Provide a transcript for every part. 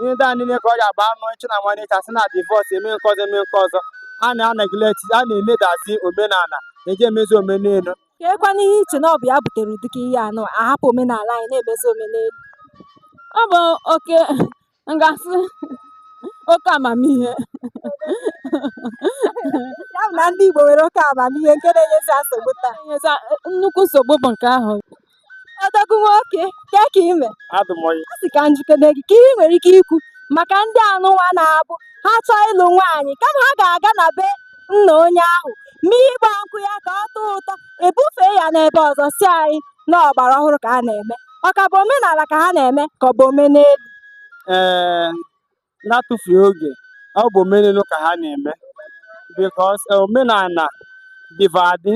ihe ndị a niile ka ọ ga-agba anụ ịchụ na nwanne ịcha sị na divorce eme nke ọzọ eme nke ọzọ a na-aneglect a na-emedazi omenala eji emezi omenelu keekwanụ ihe i che na ọ bụ ya butere ụdịka ihe anụ a hapụ omenala anyị na-emezi omenelu ọ bụ oke m ga-asị oke amamihe ya bụ na ndị Igbo nwere oke amamihe nke na-enyezi nsogbu taa nnukwu nsogbu bụ nke ahụ Odogwu nwoke, ke ka ị mee? Adị m ọyị. A sị ka m jụkene gị, ke ihe i nwere ike ikwu maka ndị anụnwa na-abụ ha chọọ ịlụ nwaanyị kama ha ga-aga na be nna onye ahụ mee ịgba nkwụ ya ka ọ tọọ ụtọ e bufee ya n'ebe ọzọ sị anyị na ọgbara ọhụrụ ka a na-eme ọ ka bụ omenala ka ha na-eme ka ọ bụ omenelu Ee, n'atụfughị oge ọ bụ omenelu ka ha na-eme because eh, omenala dịva adị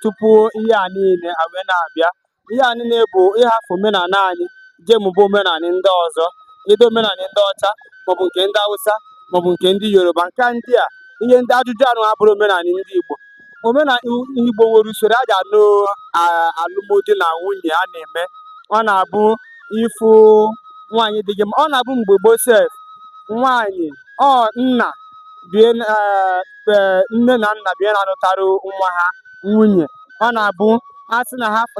tupu ihe a niile a wee na-abịa ihe a niile bụ ịhafụ omenala anyị jee mụba omenala ndị ọzọ either omenala ndị ọcha maọbụ nke ndị Hausa maọbụ nke ndị Yoruba nke ndị a ihe ndị ajụjụ anụ abụrọ omenala ndị Igbo omenala Igbo nwere usoro e ji anụ alụmdi na nwunye a na-eme ọ na-abụ ị fụ nwaanyị dị gị mma ọ na-abụ mgbe gboo sef nwaanyị ọ nna bie e, e, nne na nna bie na-anụtara nwa ha nwunye ọ na-abụ a sị na ha fụ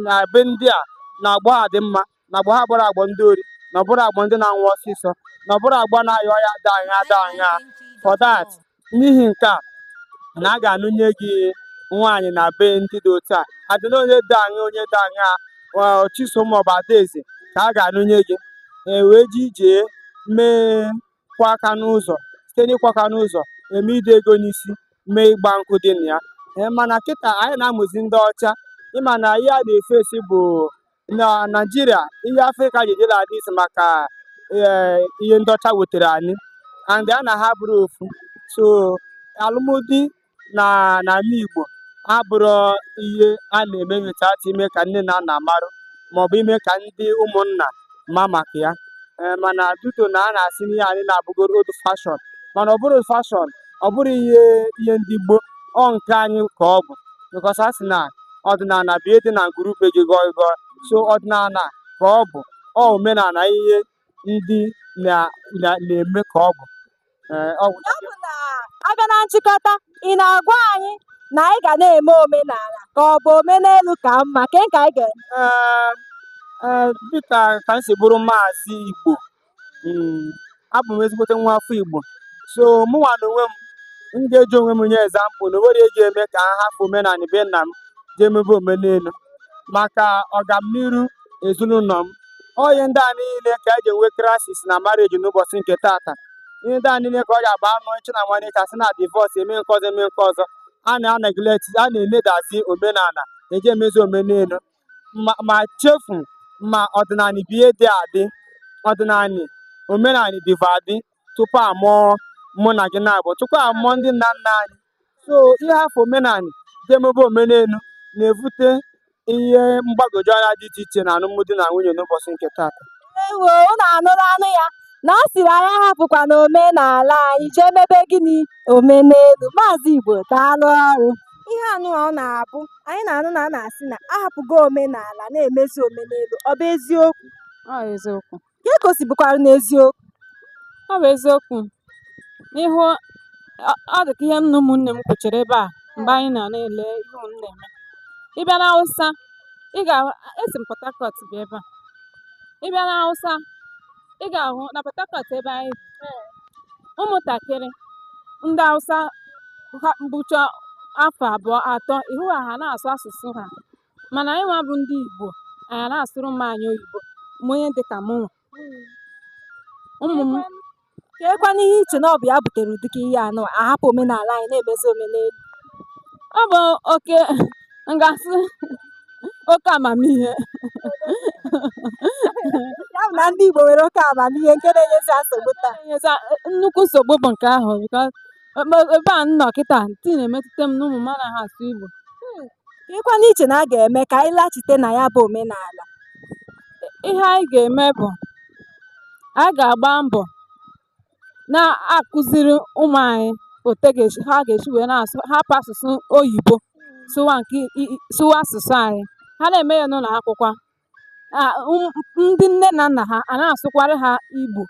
na be ndị a na agbọ ha dị mma na agbọ ha abụrọ agbọ ndị ori na ọ bụrọ agbọ ndị na-anwụ ọsịsọ na ọ bụrọ agbọ na-aya ọya ada ahịa ada ahịa for that n'ihi nke a na a ga-anụnye gị nwaanyị na be ndị dị otu a adịna onye dị aṅa onye dị aṅa Chisom maọbụ Adaeze ka a ga-anụnye gị e wee ji ije mee ịkụ aka n'ụzọ site n'ịkụ aka n'ụzọ e mee ide ego n'isi mee ịgba nkwụ dị na ya e, mana kịta anyị na-amụzi ndị ọcha ị ma na ihe a na-eface bụ na Naịjirịa ihe Afrịka ji dịla adị isi maka eh, ihe ndị ọcha wetara anyị anyị na ha abụrọ ofu so alụmdi na n'ala Igbo abụrọ ihe a na-eme without ime ka nne na nna marụ maọbụ ime ka ndị ụmụnna ma maka ya Eh, mana due to na a na-asị na ihe anyị na-abụgoro old fashion mana ọ bụrọ old fashion ọ bụrọ ihe ihe ndị gboo ọ nke anyị ka ọ bụ because a sị na ọdịnala bụ ihe dị na ngwuru be gị gọị gọị so ọdịnala ka ọ bụ ọ omenala ihe ndị na na na-eme ka ọ bụ Ee, ọ bụ ya bụ na a bịa na nchịkọta ị na-agwa anyị na anyị ga na-eme omenala ka ọ bụ omenelu ka mma ke ka anyị ga-eme Ee, ee, dịka ka m si bụrụ maazị Igbo Mm, abụ m ezigbote nwa afọ Igbo so mụnwa na onwe m m ga-eji onwe m nye example na onwere eji eme ka ha hafụ omenala be nna m jee mebe omenelu maka ọgamniru ezinụlọ m ọ ihe ndị a niile ka eji enwe crisis na marriage n'ụbọchị nke tata ihe ndị a niile ka ọ ga-agba anụ echi na nwanne echi a sị na divorce eme nke ọzọ eme nke ọzọ a na-a-neglect a na-eledazi omenala eji emezi omenelu ma chefu ma ọdịnala bụ ihe dị adị ọdịnala omenala dịva adị tupu amụọ mụ na gị naabọ tupu amụọ ndị nna nna anyị so ịhafụ omenala jee mebe omenelu na-evute ihe mgbagwoju anya dị iche iche na alụmdi na nwunye n'ụbọchị nke taata ewo unu anụla nụ ya na ọ sịrị anyị ahapụkwana omenala anyị jee mebe gịnị omenelu maazị Igbo daalụ ọrụ ihe anụ a ọ na-abụ anyị na-anụ na a na-asị na ahapụgo omenala na-emezi omenelu ọ bụ eziokwu ọ eziokwu ihe ka o si bụkwara n'eziokwu ọ bụ eziokwu n'ihi ọ dị ka ihe nna ụmụnne m kwuchara ebe a mgbe anyị na na-ele ihe unu na-eme ị bịa n'Awụsa ị ga- esi m Port Harcourt bịa ebe a ị bịa n'Awụsa ị ga-ahụ na Port Harcourt ebe anyị bi, ụmụntakịrị ndị Hausa ha bụcha afọ abụọ atọ ị hụ ha ha na-asụ asụsụ ha mana anyị nwa bụ ndị Igbo anyị na-asụrụ ụmụ anyị oyibo ma onye dị ka mụnwa ụmụ m keekwanụ ihe i che na ọ bụ ya butere ụdịka ihe anụ a, ahapụ omenala anyị na-emezi omenelu ọ bụ oke m ga-asị oke amamihe ya bụ na ndị Igbo nwere oke amamihe nke na-enyezi ha nsogbu taa enyezi ha nnukwu nsogbu bụ nke ahụ because ebe- ebe a m nọ kịta still na-emetụta m na ụmụ m anaghị asụ Igbo keekwanụ ihe i che na a ga-eme ka anyị laghachite na ya bụ omenala ihe anyị ga-eme bụ anyị ga-agba mbọ na-akụziri ụmụ anyị otu e ga-esi ha ga-esi wee na-asụ hapụ asụsụ oyibo sụwa nke i- i- sụwa asụsụ anyị ha na-eme ya n'ụlọ akwụkwọ a, ụm- ndị nne na nna ha a na-asụkwara ha Igbo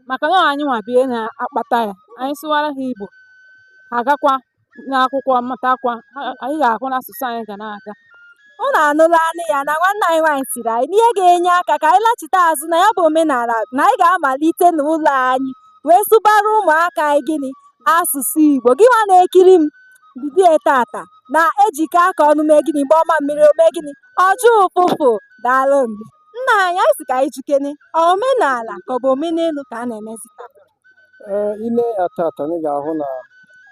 maka na ọ anyị nwa bụ ihe na-akpata ya anyị sụwara ha Igbo ha agakwa n'akwụkwọ mụtakwa ya ị ga-ahụ na asụsụ anyị ga na-aga unu anụla nụ ya na nwanne anyị nwaanyị sịrị anyị na ihe ga-enye aka ka anyị lachite azụ na ya bụ omenala na anyị ga-amalite n'ụlọ anyị wee sụbara ụmụaka anyị gịnị asụsụ Igbo gị nwa na-ekiri m bido tata na e jikọọ aka ọnụ mee gịnị gbaa mamịrị o mee gịnị ọ gbọọ ụfụfụ daalụ nna anyị anyị sị ka anyị jụkene omenala ka ọ bụ omenelu ka a na-emezi Ee, i lee ya tata anyị ga-ahụ na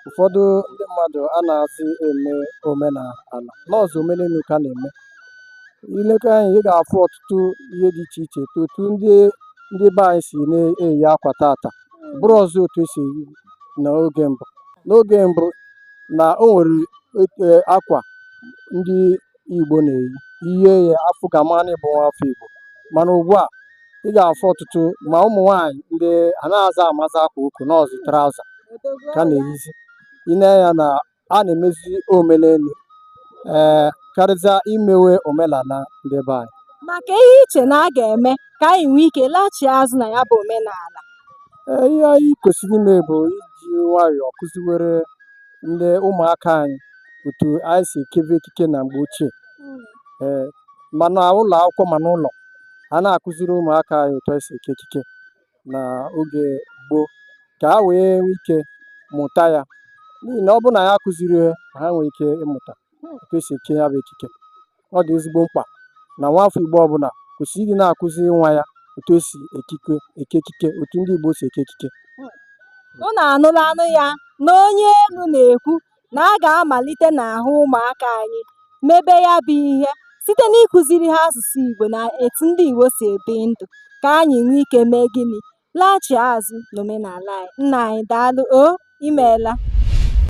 ụfọdụ ndị mmadụ anazị eme omenala nọọsọ omenelu ka a na-eme i lekwa anya ị ga-afụ ọtụtụ ihe dị iche iche etu otu ndị ndị be anyị si na-eyi akwa tata abụrọzị otu esi eyi n'oge mbụ n'oge mbụ na o nwere otu akwa ndị Igbo na-eyi ihe a ga-afụ ka a mara na ị bụ nwa afọ Igbo mana ugbu a ị ga-afụ ọtụtụ ma ụmụ nwaanyị ndị anaghịzị amazị akwa ukwu nọọsọ traụza ka a na-eyizi i nee ya na a na-emezi omenelu ee karịzịa imewe omenala ndị be anyị maka ihe i che na a ga-eme ka anyị nwee ike laghachi azụ na ya bụ omenala ee ihe anyị kwesịrị ime bụ iji nwayọọ kụziwere ndị ụmụaka anyị otu anyị si ekebe ekike na mgbe ochie ee ma n'ụlọ akwụkwọ ma n'ụlọ a na-akụziri ụmụaka anyị otu anyị si eke ekike na oge gboo ka ha wee nwee ike mụta ya n'ihi na ọ bụrụ na ya akụziri ha ha nwee ike ịmụta otu esi eke ya bụ ekike ọ dị ezigbo mkpa na nwaafọ Igbo ọbụla kwesịrị ịdị na-akụziri nwa ya otu esi ekike eke ekike otu ndị Igbo si eke ekike unu anụlanụ ya na onye elu na-ekwu na a ga-amalite n'ahụ ụmụaka anyị mebe ya bụ ihe site n'ịkụziri ha asụsụ Igbo na etu ndị Igbo si ebi ndụ ka anyị nwee ike mee gịnị laghachi azụ n'omenala anyị nna anyị daalụ o imeela